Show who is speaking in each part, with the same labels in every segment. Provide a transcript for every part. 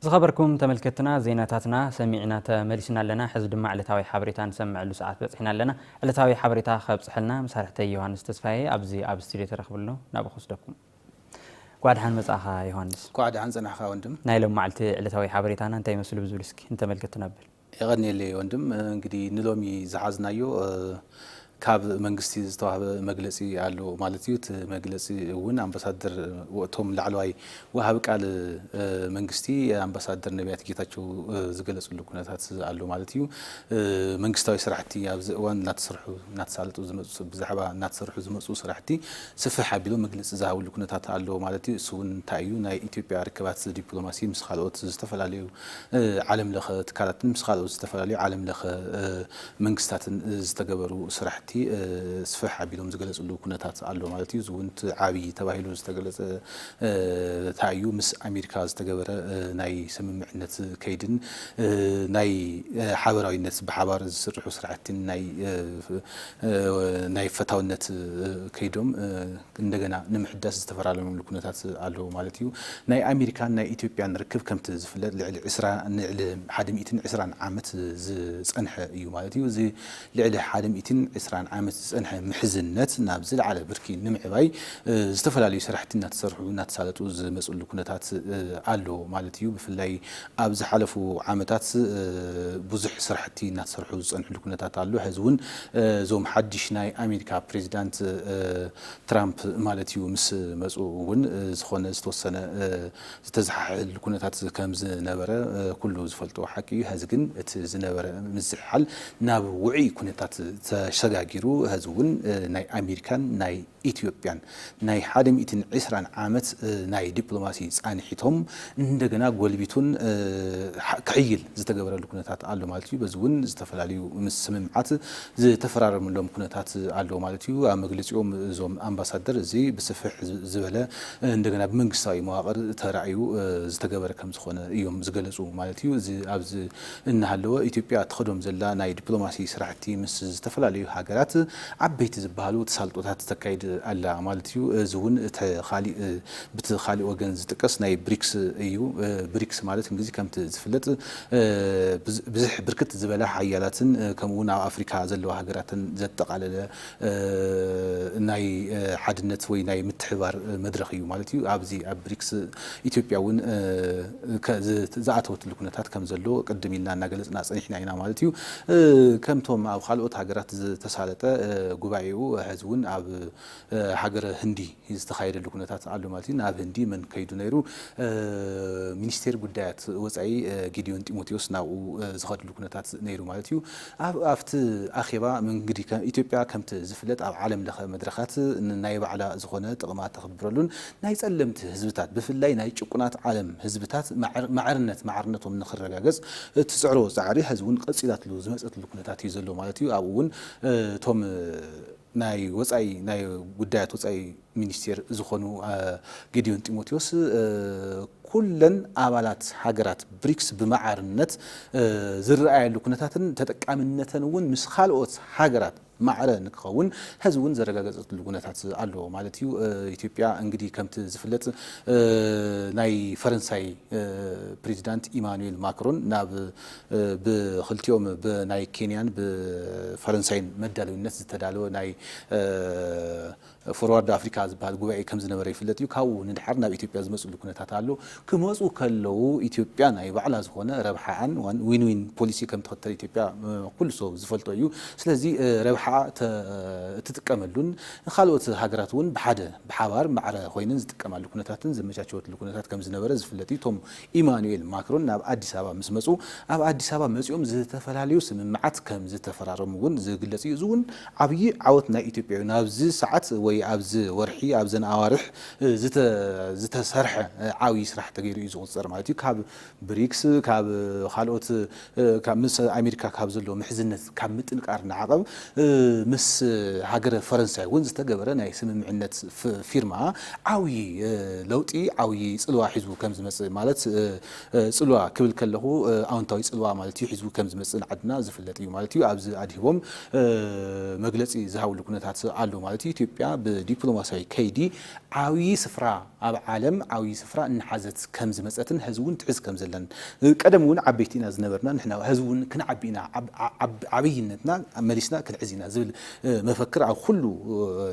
Speaker 1: ዝኸበርኩም ተመልከትና ዜናታትና ሰሚዕና ተመሊስና ኣለና። ሕዚ ድማ ዕለታዊ ሓበሬታ ንሰምዐሉ ሰዓት በጽሕና ኣለና። ዕለታዊ ሓበሬታ ከብጽሐልና መሳርሕተይ ዮሃንስ ተስፋዬ ኣብዚ ኣብ ስቱድዮ ተረኽቡ ኣሎ ናብኡ ክወስደኩም። ኳዕ ደሓን መጻእኻ ዮሃንስ። ኳዕ ደሓን ጸናሕካ ወንድም።
Speaker 2: ናይ ሎም መዓልቲ ዕለታዊ
Speaker 1: ሓበሬታና እንታይ ይመስሉ ብዝብል እስኪ ንተመልከትና ኣብል። የቐንየለይ ወንድም
Speaker 2: እንግዲ ንሎሚ ዝሓዝናዮ ካብ መንግስቲ ዝተዋህበ መግለፂ ኣሎ ማለት እዩ። እቲ መግለፂ እውን ኣምባሳደር ወእቶም ላዕለዋይ ወሃቢ ቃል መንግስቲ ኣምባሳደር ነቢያት ጌታቸው ዝገለፅሉ ኩነታት ኣሎ ማለት እዩ። መንግስታዊ ስራሕቲ ኣብዚ እዋን እናተሰርሑ እናተሳለጡ ዝመፁ ብዛዕባ እናተሰርሑ ዝመፁ ስራሕቲ ስፍሕ ኣቢሎም መግለፂ ዝሃብሉ ኩነታት ኣሎ ማለት እዩ። እሱ እውን እንታይ እዩ ናይ ኢትዮጵያ ርክባት ዲፕሎማሲ ምስ ካልኦት ዝተፈላለዩ ዓለም ለኸ ትካላትን ምስ ካልኦት ዝተፈላለዩ ዓለም ለኸ መንግስታትን ዝተገበሩ ስራሕቲ ስፍሕ ኣቢሎም ዝገለፅሉ ኩነታት ኣሎ ማለት እዩ። እዚ እውን እቲ ዓብዪ ተባሂሉ ዝተገለፀ ታይ እዩ ምስ ኣሜሪካ ዝተገበረ ናይ ስምምዕነት ከይድን ናይ ሓበራዊነት ብሓባር ዝስርሑ ስራሕቲን ናይ ናይ ፈታውነት ከይዶም እንደገና ንምሕዳስ ዝተፈራረምሉ ኩነታት ኣሎ ማለት እዩ። ናይ ኣሜሪካን ናይ ኢትዮጵያን ርክብ ከምቲ ዝፍለጥ ልዕሊ ዕስራ ንልዕሊ ሓደ ሚእትን ዕስራን ዓመት ዝጸንሐ እዩ ማለት እዩ። እዚ ልዕሊ ሓደ ሚእትን ዕስራን ዓመት ዝጸንሐ ምሕዝነት ናብ ዝለዓለ ብርኪ ንምዕባይ ዝተፈላለዩ ሰራሕቲ እናተሰርሑ እናተሳለጡ ዝመጽሉ ኩነታት ኣሎ ማለት እዩ። ብፍላይ ኣብ ዝሓለፉ ዓመታት ብዙሕ ስራሕቲ እናተሰርሑ ዝፀንሕሉ ኩነታት ኣሎ። ሐዚ እውን እዞም ሓዱሽ ናይ ኣሜሪካ ፕሬዚዳንት ትራምፕ ማለት እዩ ምስ መፁ እውን ዝኾነ ዝተወሰነ ዝተዘሓሕል ኩነታት ከም ዝነበረ ኩሉ ዝፈልጦ ሓቂ እዩ። ሐዚ ግን እቲ ዝነበረ ምዝሕሓል ናብ ውዑይ ኩነታት ተሸጋጊሩ ሐዚ እውን ናይ ኣሜሪካን ናይ ኢትዮጵያን ናይ ሓደ ሚእትን ዕስራን ዓመት ናይ ዲፕሎማሲ ፃንሒቶም እንደገና ጎልቢቱን ክሕይል ዝተገበረሉ ኩነታት ኣሎ ማለት እዩ። በዚ እውን ዝተፈላለዩ ስምምዓት ዝተፈራረምሎም ኩነታት ኣሎ ማለት እዩ። ኣብ መግለፂኦም እዞም ኣምባሳደር እዚ ብስፍሕ ዝበለ እንደገና ብመንግስታዊ መዋቕር ተራእዩ ዝተገበረ ከምዝኾነ እዮም ዝገለፁ ማለት እዩ። እዚ ኣብዚ እናሃለወ ኢትዮጵያ እትኸዶም ዘላ ናይ ዲፕሎማሲ ስራሕቲ ምስ ዝተፈላለዩ ሃገራት ዓበይቲ ዝበሃሉ ተሳልጦታት ተካይድ ኣላ ማለት እዩ። እዚ እውን እቲ ካሊእ ብቲ ካሊእ ወገን ዝጥቀስ ናይ ብሪክስ እዩ። ብሪክስ ማለት እንግዚ ከምቲ ዝፍለጥ ብዝሕ ብርክት ዝበላ ሓያላትን ከምኡ እውን ኣብ ኣፍሪካ ዘለዋ ሃገራትን ዘጠቓለለ ናይ ሓድነት ወይ ናይ ምትሕብባር መድረኽ እዩ ማለት እዩ። ኣብዚ ኣብ ብሪክስ ኢትዮጵያ እውን ዝኣተወትሉ ኩነታት ከም ዘሎ ቅድም ኢልና እናገለፅና ፀኒሕና ኢና ማለት እዩ። ከምቶም ኣብ ኻልኦት ሃገራት ዝተሳለጠ ጉባኤኡ ሕዚ እውን ኣብ ሃገረ ህንዲ ዝተኻየደሉ ኩነታት ኣሎ ማለት እዩ። ናብ ህንዲ መን ከይዱ ነይሩ? ሚኒስቴር ጉዳያት ወፃኢ ጌዲዮን ጢሞቴዎስ ናብኡ ዝኸድሉ ኩነታት ነይሩ ማለት እዩ። ኣብ ኣብቲ ኣኼባ መንግዲ ኢትዮጵያ ከምቲ ዝፍለጥ ኣብ ዓለም ለኸ መድረኻት ንናይ ባዕላ ዝኾነ ጥቕማ ተኽብረሉን ናይ ፀለምቲ ህዝብታት ብፍላይ ናይ ጭቁናት ዓለም ህዝብታት ማዕርነት ማዕርነቶም ንኽረጋገፅ እትፅዕሮ ፃዕሪ ሐዚ እውን ቐፂላትሉ ዝመፀትሉ ኩነታት እዩ ዘሎ ማለት እዩ። ኣብኡ እውን እቶም ናይ ወጻኢ ናይ ጉዳያት ወጻኢ ሚኒስቴር ዝኾኑ ጌዲዮን ጢሞቴዎስ ኩለን ኣባላት ሃገራት ብሪክስ ብማዕርነት ዝርኣያሉ ኩነታትን ተጠቃምነተን እውን ምስ ካልኦት ሃገራት ማዕረ ንክኸውን ሐዚ እውን ዘረጋገፀትሉ ኩነታት ኣሎ ማለት እዩ። ኢትዮጵያ እንግዲህ ከምቲ ዝፍለጥ ናይ ፈረንሳይ ፕሬዚዳንት ኢማኑኤል ማክሮን ናብ ብኽልቲኦም ብናይ ኬንያን ብፈረንሳይን መዳልዊነት ዝተዳለወ ናይ ፎርዋርድ ኣፍሪካ ዝበሃል ጉባኤ ከምዝነበረ ይፍለጥ እዩ። ካብኡ ንድሓር ናብ ኢትዮጵያ ዝመፅሉ ኩነታት ኣሎ። ክመፁ ከለው ኢትዮጵያ ናይ ባዕላ ዝኾነ ረብሓኣን ዊን ዊን ፖሊሲ ከምትኽተል ኢትዮጵያ ኩሉ ሰው ዝፈልጦ እዩ። ስለዚ ረብሓኣ እትጥቀመሉን ንካልኦት ሃገራት እውን ብሓደ ብሓባር ማዕረ ኮይነን ዝጥቀማሉ ኩነታትን ዘመቻቸወትሉ ኩነታት ከምዝነበረ ዝፍለጥ እዩ። እቶም ኢማኑኤል ማክሮን ናብ ኣዲስ ኣበባ ምስ መፁ ኣብ ኣዲስ ኣበባ መፂኦም ዝተፈላለዩ ስምምዓት ከም ዝተፈራረሙ እውን ዝግለፅ እዩ። እዚ እውን ዓብዪ ዓወት ናይ ኢትዮጵያ እዩ። ናብዚ ሰዓት ወይ ኣብዚ ወርሒ ኣብዘን ኣዋርሕ ዝተሰርሐ ዓብዪ ስራሕ ተገይሩ እዩ ዝቑፀር ማለት እዩ። ካብ ብሪክስ ካብ ካልኦት ካብ ምስ ኣሜሪካ ካብ ዘለዎ ምሕዝነት ካብ ምጥንቃር ንዓቐብ ምስ ሃገረ ፈረንሳይ እውን ዝተገበረ ናይ ስምምዕነት ፊርማ ዓብዪ ለውጢ ዓብዪ ፅልዋ ሒዙ ከም ዝመፅእ ማለት ፅልዋ ክብል ከለኹ ኣውንታዊ ፅልዋ ማለት እዩ ሒዙ ከም ዝመፅእን ዓድና ዝፍለጥ እዩ ማለት እዩ ኣብዚ ኣድሂቦም መግለፂ ዝሃብሉ ኩነታት ኣሎ ማለት እዩ ኢትዮጵያ ብዲፕሎማሲያዊ ከይዲ ዓብዪ ስፍራ ኣብ ዓለም ዓብዪ ስፍራ እናሓዘት ከም ዝመፀትን ሐዚ እውን ትሕዝ ከም ዘላን ቀደም እውን ዓበይቲ ኢና ዝነበርና ንሕና ሐዚ እውን ክንዓቢ ኢና ዓብይነትና መሊስና ክንሕዝ ኢና ዝብል መፈክር ኣብ ኹሉ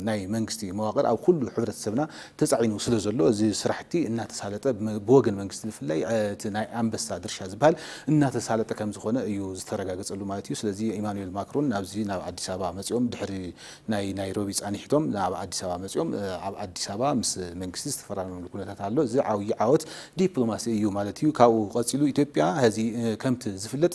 Speaker 2: ናይ መንግስቲ መዋቅር ኣብ ኹሉ ሕብረተሰብና ተፃዒኑ ስለ ዘሎ እዚ ስራሕቲ እናተሳለጠ ብወገን መንግስቲ ብፍላይ እቲ ናይ ኣንበሳ ድርሻ ዝብሃል እናተሳለጠ ከም ዝኾነ እዩ ዝተረጋገፀሉ ማለት እዩ። ስለዚ ኢማኑኤል ማክሮን ናብዚ ናብ ኣዲስ ኣበባ መፂኦም ድሕሪ ናይ ናይሮቢ ፃኒሕቶም ናብ ኣዲስ ኣበባ መፂኦም ኣብ ኣዲስ ኣበባ ምስ መንግስቲ ዝተፈራረምሉ ኩነታት ኣሎ። እዚ ዓብዪ ዓወት ዲፕሎማሲ እዩ ማለት እዩ። ካብኡ ቀፂሉ ኢትዮጵያ ሀዚ ከምቲ ዝፍለጥ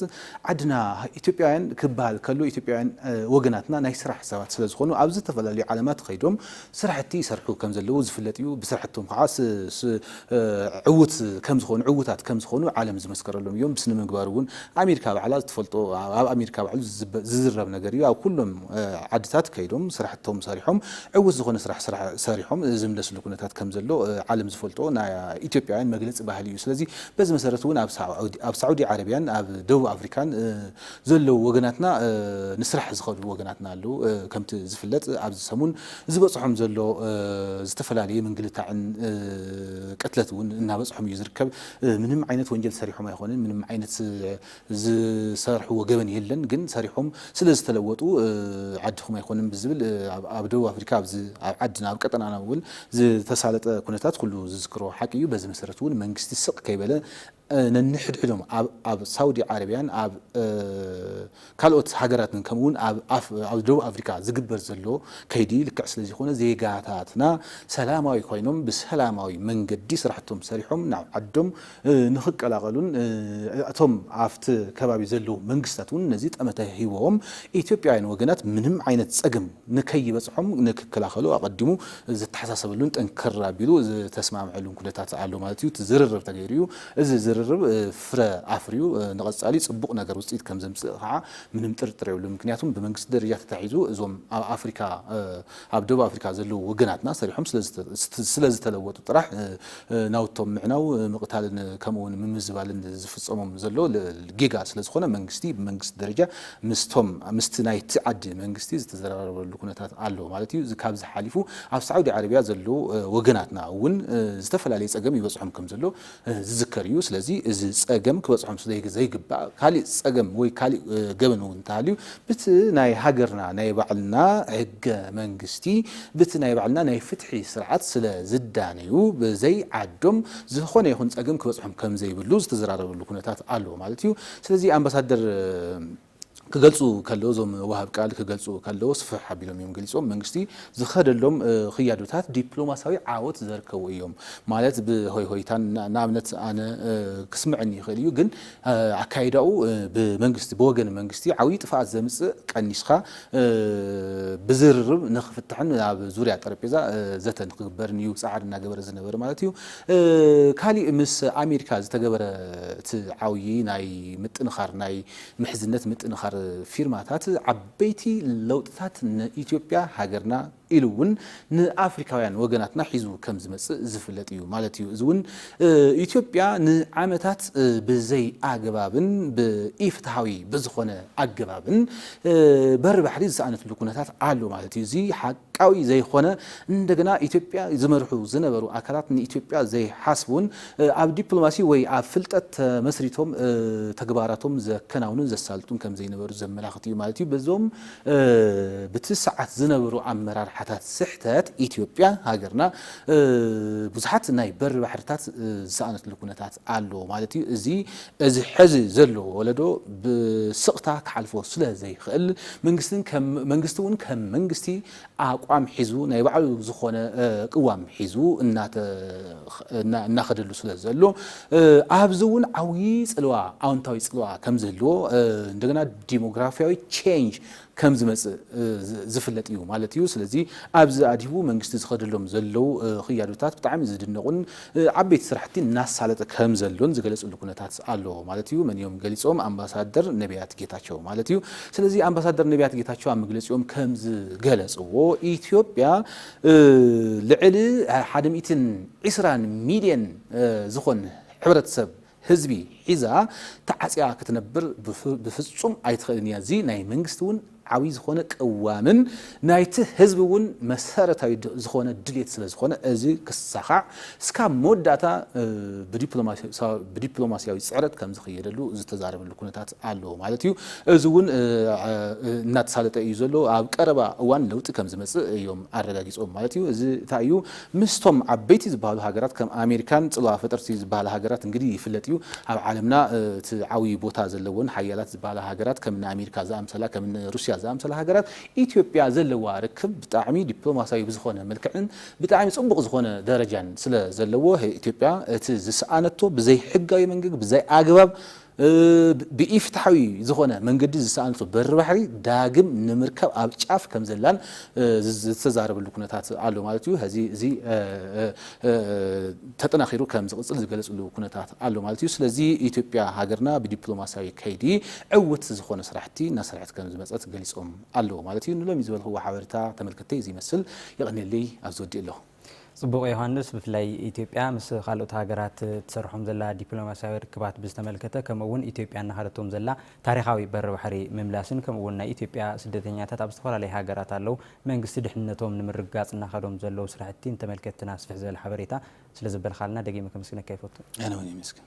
Speaker 2: ዓድና ኢትዮጵያውያን ክበሃል ከሎ ኢትዮጵያውያን ወገናትና ናይ ስራሕ ሰባት ስለዝኾኑ ኣብ ዝተፈላለዩ ዓለማት ኸይዶም ስራሕቲ ይሰርሑ ከምዘለዉ ዝፍለጥ እዩ። ብስራሕቶም ከዓ ዕዉት ከም ዝኾኑ ዕዉታት ከም ዝኾኑ ዓለም ዝመስከረሎም እዮም። ብስነ ምግባር እውን ኣሜሪካ ባዕላ ትፈልጦ ኣብ ኣሜሪካ ባዕሉ ዝዝረብ ነገር እዩ። ኣብ ኩሎም ዓድታት ከይዶም ስራሕቶም ሰሪሖም ዕዉት ዝኾነ ስራሕ ሰሪሖም ዝምለስሉ ኩነታት ከም ዘሎ ዓለም ዝፈልጦ ናይ ኢትዮጵያውያን መግለፂ ባህሊ እዩ። ስለዚ በዚ መሰረት እውን ኣብ ሳዑዲ ዓረብያን ኣብ ደቡብ ኣፍሪካን ዘለዉ ወገናትና ንስራሕ ዝኸዱ ወገናትና ኣለዉ። ከምቲ ዝፍለጥ ኣብዚ ሰሙን ዝበፅሖም ዘሎ ዝተፈላለየ ምንግልታዕን ቅትለት እውን እናበፅሖም እዩ ዝርከብ። ምንም ዓይነት ወንጀል ሰሪሖም ኣይኾንን፣ ምንም ዓይነት ዝሰርሕዎ ገበን የለን፣ ግን ሰሪሖም ስለዝተለወጡ ዓድኹም ኣይኮንን ብዝብል ኣብ ደቡብ ኣፍሪካ ኣብ ዓድና ኣብ ቀጠናና እውን ዝተሳለጠ ኩነታት ኩሉ ዝዝክሮ ሓቂ እዩ። በዚ መሰረት እውን መንግስቲ ስቕ ከይበለ ነንሕድሕዶም ኣብ ሳውዲ ዓረብያን ኣብ ካልኦት ሃገራትን ከምኡ ውን ኣብ ደቡብ ኣፍሪካ ዝግበር ዘሎ ከይዲ ልክዕ ስለዘይኮነ ዜጋታትና ሰላማዊ ኮይኖም ብሰላማዊ መንገዲ ስራሕቶም ሰሪሖም ናብ ዓዶም ንክቀላቐሉን እቶም ኣብቲ ከባቢ ዘለዉ መንግስታት ውን ነዚ ጠመተ ሂቦም ኢትዮጵያውያን ወገናት ምንም ዓይነት ፀገም ንከይበፅሖም ንክከላኸሉ ኣቐዲሙ ዝተሓሳሰበሉን ጥንክር ኣቢሉ ዝተስማዕምዐሉን ኩነታት ኣሎ ማለት እዩ። እቲ ዝርርብ ተገይሩ እዩ። እዚ ዝርርብ ፍረ ኣፍርዩ ንቐፃሊ ፅቡቕ ነገር ውፅኢት ከምዘምፅእ ከዓ ምንም ጥርጥር የብሉን። ምክንያቱም ብመንግስቲ ደረጃ ተታሒዙ እዞም ኣብ ኣፍሪካ ኣብ ደቡብ ኣፍሪካ ዘለዉ ወገናትና ሰሪሖም ስለዝተለወጡ ጥራሕ ናውቶም ምዕናው፣ ምቕታልን ከምኡ እውን ምምዝባልን ዝፍፀሞም ዘሎ ጌጋ ስለዝኾነ መንግስቲ ብመንግስቲ ደረጃ ምስቶም ምስቲ ናይቲ ዓዲ መንግስቲ ዝተዘራረበሉ ኩነታት ኣሎ ማለት እዩ። ካብዚ ሓሊፉ ኣብ ሳዑዲ ዓረብያ ዘለዉ ወገናትና እውን ዝተፈላለየ ፀገም ይበፅሖም ከምዘሎ ዝዝከር እዩ። ስለዚ እዚ ፀገም ክበፅሖም ስለዘይግባእ ካሊእ ፀገም ወይ ካሊእ ገበን እውን እንተሃልዩ ብቲ ናይ ሃገርና ናይ ባዕልና ሕገ መንግስቲ ብቲ ናይ ባዕልና ናይ ፍትሒ ስርዓት ስለዝዳነዩ ብዘይ ዓዶም ዝኾነ ይኹን ፀገም ክበፅሖም ከምዘይብሉ ዝተዘራረበሉ ኩነታት ኣሎ ማለት እዩ። ስለዚ ኣምባሳደር ክገልፁ ከለዉ እዞም ወሃብ ቃል ክገልፁ ከለዉ ስፍሕ ኣቢሎም እዮም ገሊፆም። መንግስቲ ዝኸደሎም ኽያዶታት ዲፕሎማሲያዊ ዓወት ዘርከቡ እዮም ማለት ብሆይሆይታን ንኣብነት ኣነ ክስመዐኒ ይኽእል እዩ ግን ኣካይዳኡ ብመንግስቲ ብወገን መንግስቲ ዓብይ ጥፍኣት ዘምፅእ ቀኒስኻ ብዝርርብ ንኽፍታሕን ኣብ ዙርያ ጠረጴዛ ዘተ ንኽግበርን እዩ ፃዕሪ እናገበረ ዝነበረ ማለት እዩ። ካሊእ ምስ ኣሜሪካ ዝተገበረ እቲ ዓውዪ ናይ ምጥንኻር ናይ ምሕዝነት ምጥንኻር ፊርማታት ዓበይቲ ለውጥታት ንኢትዮጵያ ሃገርና ኢሉ እውን ንኣፍሪካውያን ወገናትና ሒዙ ከም ዝመፅእ ዝፍለጥ እዩ ማለት እዩ። እዚ እውን ኢትዮጵያ ንዓመታት ብዘይ ኣግባብን ብኢፍትሃዊ ብዝኾነ ኣገባብን በሪ ባሕሪ ዝሰኣነትሉ ኩነታት ኣሎ ማለት እዩ። እዚ ቃዊ ዘይኮነ እንደገና ኢትዮጵያ ዝመርሑ ዝነበሩ ኣካላት ንኢትዮጵያ ዘይሓስቡን ኣብ ዲፕሎማሲ ወይ ኣብ ፍልጠት ተመስሪቶም ተግባራቶም ዘከናውኑን ዘሳልጡን ከምዘይነበሩ ዘመላኽት እዩ ማለት እዩ። በዞም ብቲ ሰዓት ዝነበሩ ኣመራርሓታት ስሕተት ኢትዮጵያ ሃገርና ብዙሓት ናይ በሪ ባሕርታት ዝሰኣነትሉ ኩነታት ኣሎ ማለት እዩ። እዚ እዚ ሐዚ ዘሎ ወለዶ ብስቕታ ክሓልፎ ስለ ዘይኽእል መንግስቲ እውን ከም መንግስቲ ኣቋም ሒዙ ናይ ባዕሉ ዝኾነ ቅዋም ሒዙ እናኸደሉ ስለ ዘሎ ኣብዚ እውን ዓብዪ ፅልዋ ኣወንታዊ ፅልዋ ከም ዝህልዎ እንደገና ዲሞግራፊያዊ ቼንጅ ከም ዝመጽእ ዝፍለጥ እዩ ማለት እዩ። ስለዚ ኣብዚ ኣድሂቡ መንግስቲ ዝኸደሎም ዘለው ክያዶታት ብጣዕሚ ዝድነቑን ዓበይቲ ስራሕቲ እናሳለጠ ከም ዘሎን ዝገለጽሉ ኩነታት ኣሎ ማለት እዩ። መን እዮም ገሊጾም? ኣምባሳደር ነብያት ጌታቸው ማለት እዩ። ስለዚ ኣምባሳደር ነብያት ጌታቸው ኣብ መግለጺኦም ከም ዝገለጽዎ ኢትዮጵያ ልዕሊ ሓደ ሚእትን ዒስራን ሚልየን ዝኾን ሕብረተሰብ ህዝቢ ሒዛ ተዓጽያ ክትነብር ብፍጹም ኣይትኽእልን እያ። እዚ ናይ መንግስቲ እውን ዓብይ ዝኾነ ቅዋምን ናይቲ ህዝቢ እውን መሰረታዊ ዝኾነ ድሌት ስለዝኾነ እዚ ክሳኻዕ እስካብ መወዳእታ ብዲፕሎማሲያዊ ፅዕረት ከምዝኽየደሉ ዝተዛረበሉ ኩነታት ኣሎ ማለት እዩ። እዚ እውን እናተሳለጠ እዩ ዘሎ። ኣብ ቀረባ እዋን ለውጢ ከምዝመፅእ እዮም ኣረጋጊፆም ማለት እዩ። እዚ እንታይ እዩ? ምስቶም ዓበይቲ ዝበሃሉ ሃገራት ከም ኣሜሪካን ጽልዋ ፈጠርቲ ዝበሃላ ሃገራት እንግዲ ይፍለጥ እዩ። ኣብ ዓለምና እቲ ዓብዩ ቦታ ዘለወን ሓያላት ዝበሃላ ሃገራት ከም እኒ ኣሜሪካ ዝኣምሰላ ከም እኒ ሩስያ ዝኣምሰላ ሃገራት ኢትዮጵያ ዘለዋ ርክብ ብጣዕሚ ዲፕሎማሲያዊ ብዝኾነ መልክዕን ብጣዕሚ ጽቡቕ ዝኾነ ደረጃን ስለ ዘለዎ ኢትዮጵያ እቲ ዝሰኣነቶ ብዘይሕጋዊ መንገጊ ብዘይኣግባብ ብኢ-ፍትሓዊ ዝኾነ መንገዲ ዝተሃንጹ በሪ ባሕሪ ዳግም ንምርካብ ኣብ ጫፍ ከም ዘላን ዝተዛረበሉ ኩነታት ኣሎ ማለት እዩ። ሐዚ እዚ ተጠናኺሩ ከም ዝቕፅል ዝገለፅሉ ኩነታት ኣሎ ማለት እዩ። ስለዚ ኢትዮጵያ ሃገርና ብዲፕሎማሲያዊ ከይዲ ዕውት ዝኾነ ስራሕቲ እናሰርሐት ከም ዝመፀት ገሊፆም ኣለው ማለት እዩ። ንሎሚ ዝበልክዎ ሓበሬታ ተመልከትተይ እዚ ይመስል። የቐንየለይ ኣብዚ ወዲኤ ኣለኹ። ጽቡቕ ዮሃንስ፣
Speaker 1: ብፍላይ ኢትዮጵያ ምስ ካልኦት ሃገራት ትሰርሖም ዘላ ዲፕሎማስያዊ ርክባት ብዝተመልከተ ከምኡ እውን ኢትዮጵያ እናኸደቶም ዘላ ታሪኻዊ በሪ ባሕሪ ምምላስን ከምኡ እውን ናይ ኢትዮጵያ ስደተኛታት ኣብ ዝተፈላለዩ ሃገራት ኣለው መንግስቲ ድሕንነቶም ንምርግጋጽ እናኸዶም ዘለው ስራሕቲ እንተመልከትትና ስፍሕ
Speaker 2: ዝበለ
Speaker 1: ሓበሬታ ስለዘበልካልና ደጊመ ከመስግነካ ይፈቱ።
Speaker 2: ኣነ
Speaker 1: እውን የመስግን።